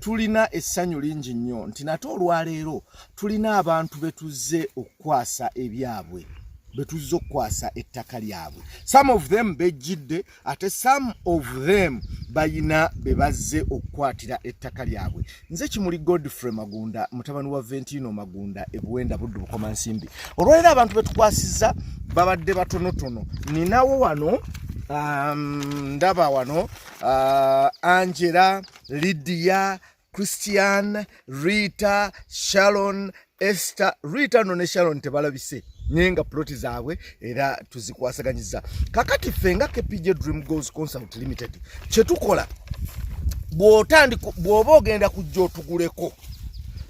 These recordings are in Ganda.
tulina essanyu lingi nnyo nti nate olwaleero tulina abantu be tuzze okukwasa ebyabwe be tuzze okukwasa ettaka lyabwe some of them bejjidde ate some of them bayina be bazze okukwatira ettaka lyabwe nze kimuli godfrey magunda mutabani wa ventino magunda ebuwenda buddu bukoma nsimbi olwaleero abantu be tukwasizza babadde batonotono ninawo wano um, ndaba wano uh, angela lidiya christian rita sharon ester rita no ne sharon tebalabise naye nga ploti zaabwe era tuzikwasaganyiza kakati ffe nga kpj dream goals consult limited kyetukola bwoba ogenda kujja otuguleko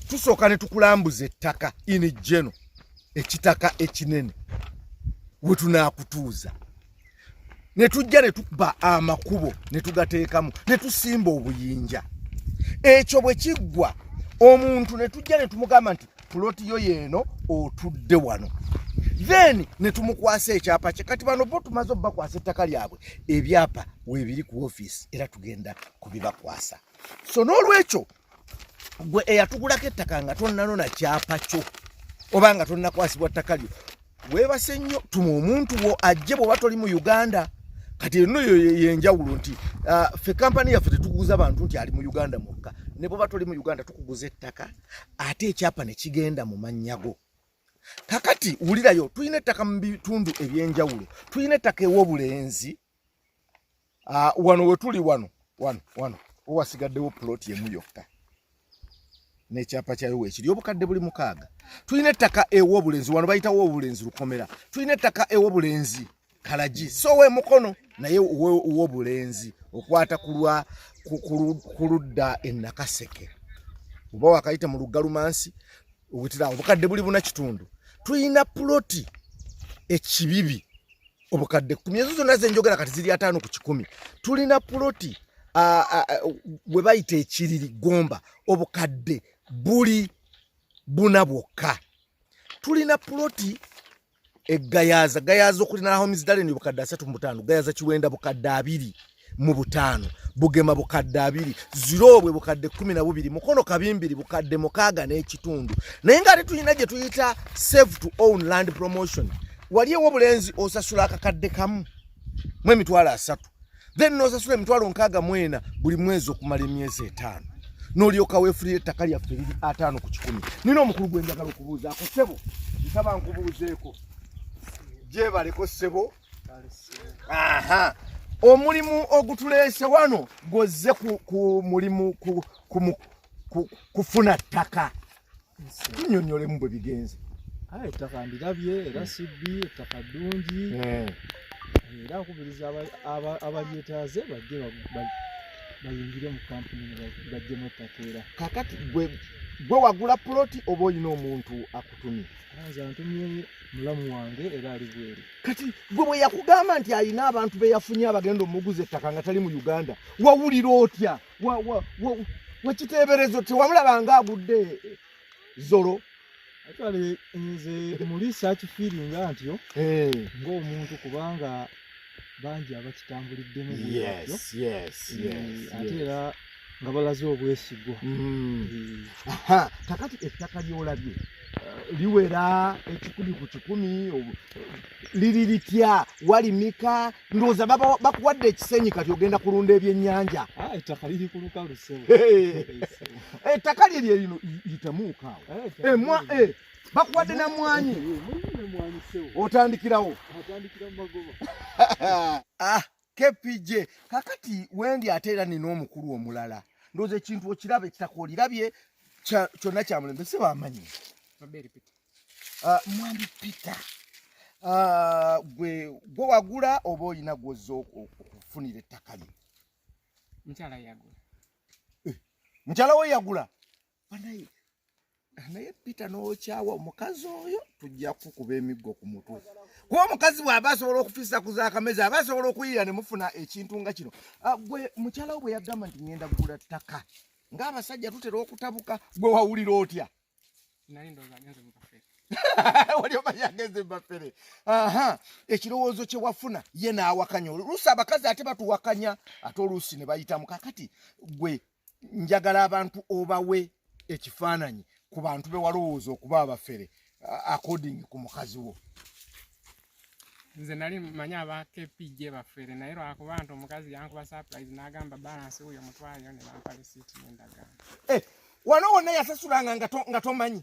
tusooka ne tukulambuza ettaka ini geno ekitaka ekinene wetunakutuuza ne tujja ne tuba amakubo ne tugateekamu ne tusimba obuyinja ekyo bwe kiggwa omuntu ne tujja ne tumugamba nti puloti yo yeeno otudde wano then ne tumukwasa ekyapa kye kati bano bo tumaze obubakwasa ettaka lyabwe ebyapa weebiri ku ofiisi era tugenda kubibakwasa so n'olwekyo gwe eyatugulako ettaka nga tonnanona kyapa kyo oba nga tonnakwasibwa ttaka lyo weebase nnyo tuma omuntu wo ajje bw'oba toli mu uganda kati eno yo yenjawulo nti ah, fe kampani yaffe tetuguza bantu nti ali mu uganda mwokka ne bw'oba toli mu uganda tukuguza ettaka ate ekyapa ne kigenda mu mannya go kakati wulirayo tulina ettaka mu bitundu eby'enjawulo tulina ettaka ew'obulenzi ah, wano wetuli wano wano wano owasigaddewo ploti emu yokka nekyapa kyayo wekiri obukadde buli mukaaga tulina ettaka ewobulenzi wano bayitawo obulenzi lukomera tulina ettaka ewobulenzi kalagi so we mukono naye wobulenzi okwata kulwa kuludda enakaseke oba wakayita mu luggalumansi obutirawo obukadde buli buna kitundu tulina puloti ekibibi obukadde kumi ezo zonna zenjogera kati ziri ataano ku kikumi tulina puloti we bayita ekiriri gomba obukadde buli buna bwokka tulina puloti egayaza gayaza okulina homes dalen obukadde asatu mu butaano gayaza kiwenda bukadde abiri mu butaano bugema bukadde abiri ziroobwe bukadde kumi na bubiri mukono kabimbiri bukadde mukaaga n'ekitundu naye nga ate tulina gye tuyita save to own land promotion wali ewo obulenzi osasula akakadde kamu mu emitwalo asatu then nosasula emitwalo nkaaga mwena buli mwezi okumala emyezi etaano nolyoka wefulira ettaka lyaffe liri ataano ku kikumi nina omukulu gwenjagala okubuuzaako sebo nsaba nkubuuzeeko gyebaleko sebo aha omulimu ogutuleese wano gwozze ku mulimu kufuna ttaka tunyonyolemu bwe bigenze aye ettaka ndirabye era hmm. sibbi ettaka ddungi hmm. era nkubiriza abalyetaaze bajje bayingire mu kampuni bajjemu ettaka era kakati gwe wagula puloti oba olina omuntu akutumye mulamu wange era ali bweru kati gwe bwe yakugamba nti alina abantu be yafunye abagenda omuguza ettaka nga tali mu uganda wawulira otya wakiteeberezo tewamulaba nga agudde zolo atwale nze mulisa akifiiringa ntyo eh. ng'omuntu kubanga bangi abakitambuliddemu bwatyo eh, ate era nga balaze obwesigwa mm. eh. kakati ettaka lyolabye eh, liwera ekikumi ku kikumi liri litya walimika ndowooza bakuwadde ekisenyi kati ogenda kulunda ebyennyanja ah, ettaka liri ku lukalu ettaka lyerye lino yitamuukaawo eh, emwa bakuwadde na mwanyi otandikirawo ah, kpj kakati wendi ate era nina omukulu omulala ndoza ekintu okiraba ekitaka olirabye kyonna kyamulembe si bamanyi ah, mwami peter ah, gwe gwe wagula oba olina gwoza okufunira ettaka lye mukyala eh, we yagula banaye naye pita nokyawa omukazi oyo tujja kukuba emiggo ku mutwe kuba omukazi bw'aba asobola okufisa ku zakamezi aba asobola okuyiira ne mufuna ekintu nga kino ah, gwe mukyala wo bwe yagamba nti ŋenda kugula ttaka ng'abasajja tutera okutabuka gwe wawulira otya wali omanyi agenze mubafere ekirowoozo kye wafuna ye n'awakanya oluusi abakazi ate batuwakanya ate oluusi ne bayitamu kakati gwe njagala abantu obawe ekifaananyi ku bantu be walowooza okuba abafere according ku mukazi wo nze nali manyi aba kpj bafere naye lwakuba nti omukazi yankuba surprise n'agamba balansi wuyo mutwaleyo ne bampa lisiiti n'endagaano eh, wano wonna yasasulanga nga tomanyi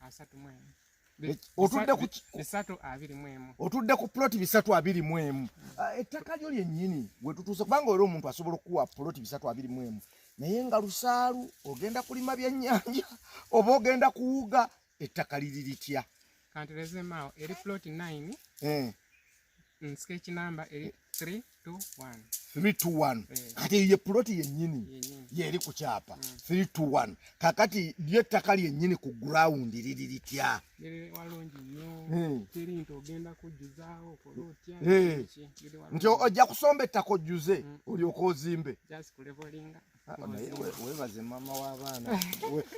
asatu mu emu otudde ku bisatu abiri mu emu otudde ku plot bisatu abiri mu emu ah, ettaka lyo lyennyini we tutuuse kubanga era omuntu asobola okukuwa plot bisatu abiri mu emu naye nga lusaalu ogenda kulima byennyanja oba ogenda kuwuga ettaka liri litya kanti lezemaawo eri plot nine eh. Mm, sketch number 321 321 kati ye puloti yennyini yeeri ku kyapa 321 mm. kakati lyo ettaka lyennyini ku gurawundi liri litya nti ojja kusomba ettaka ojjuze mm. olyoka ozimbe ah, webaze maama w'abaana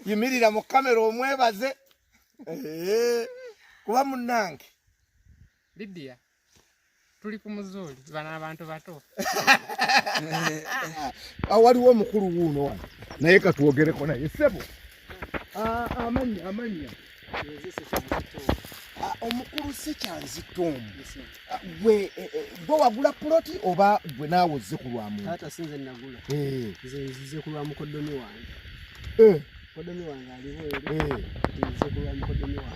yimirira mu kamera omwebaze eh, kuba munnange Lydia tuli ku muzuuli bano abantu bato ah, waliwo omukulu wuuno wano naye katwogereko naye sebo ah, amanya amanya ah, omukulu sekyanzitoomu gwe eh, eh, gwe wagula puloti oba gwe naawe ozze ku lwamukulwamukoddomi wange eh.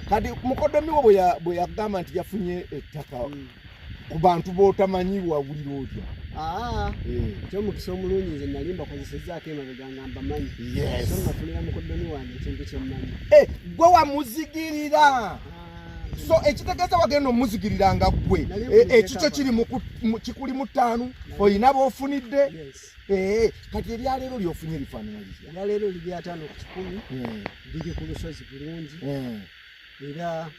kati mukodomi wo bwe yagamba nti yafunye ettaka hmm. ku bantu b'otamanyi wawulira otya ah, eh. kyomukisa omulungi nze nali mbakozesezaako emabega nga mbamanyi so nafunira mukodomi wange ekintu kyemmanyi eh, gwe wamuzigirira ah. so ekitegeeza wagenda omuzigirira nga ggwe eh, ekikyo kiri kikuli mu ttaanu olina b'ofunidde Eh, kati ebyaleero lyofunye ebifaanana bitya ebyaleero oli byataano ku kikumi eh. biri ku lusozi bulungi eh. era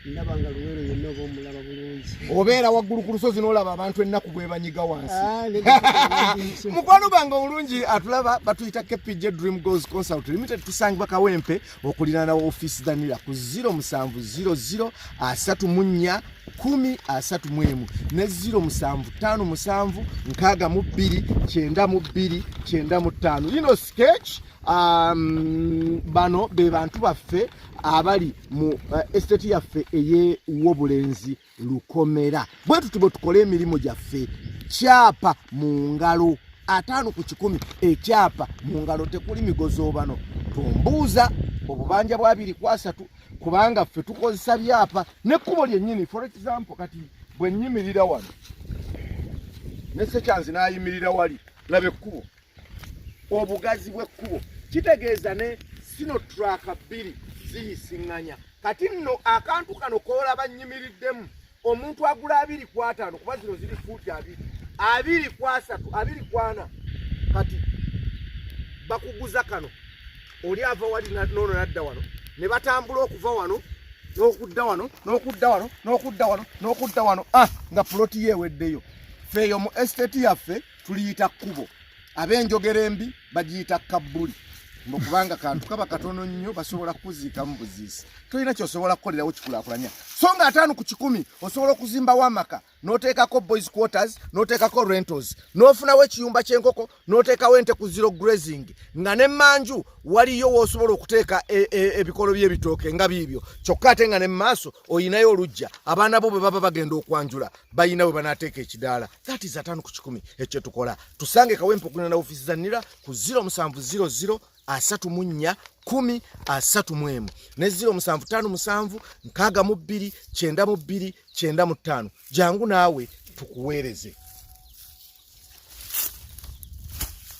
ndaba nga luweero yenna oba omulaba bulungi obeera waggulu ku lusozi n'olaba abantu ennaku bwebanyiga wansi ah, mukwano bange omulungi atulaba batuyita kpj dream goals consult limited tusangibwa kawempe okulirana ofiisi dhanira ku 0700 asatu mu nnya kumi asatu mu emu ne 0757 nkaaga mu bbiri kyenda mu bbiri kyenda mu ttaano lino sketch um, bano be bantu baffe abali mu uh, estate yaffe ey'obulenzi lukomera bwe tuti bwe tukole emirimu gyaffe kyapa mu ngalo ataano ku kikumi ekyapa mu ngalo tekuli migozoobano tumbuuza obubanja bwa biri ku asatu kubanga ffe tukozesa byapa nekkubo lyennyini for example kati bwe nnyimirira wano ne sekyanzi n'ayimirira wali laba ekkubo obugazi bw'ekkubo kitegeeza ne sino turaka bbiri ziyisiŋŋanya kati nno akantu kano koolaba nnyimiriddemu omuntu agula abiri ku ataano kuba zino ziri fuuti abiri abiri ku asatu abiri ku ana kati bakuguza kano oli ava wali noono nadda wano ne batambula okuva wano n'okudda wano n'okudda wano n'okudda wano n'okudda wano ah, nga puloti yeeweddeyo feeyo mu esiteti yaffe tuliyita kkubo ab'enjogera embi bagiyita kabbuli mbu kubanga kantu kaba katono nnyo basobola kukuziikamu buziisi tolina kyosobola kukolerawo kikulakulanya so nga ataano ku kikumi osobola okuzimbawo amaka n'oteekako boys quarters n'oteekako rentals n'ofunawo ekiyumba ky'enkoko n'oteekawo ente ku zero grazing nga ne manju waliyo woosobola okuteeka e, e, ebikolo by'ebitooke nga biibyo kyokka ate nga ne mu maaso olinayo olujja abaana bo bwe baba bagenda okwanjula balina bwe banaateeka ekidaala that is atano ku kikumi ekyo tukola tusange kawempo kuna na ofisi za nira ku 0 musanvu 00 asatu munya kumi asatu mwemu ne 0 musanvu tano musanvu nkaga mu bbiri kyenda mu bbiri kyenda mu tano jangu naawe tukuweereze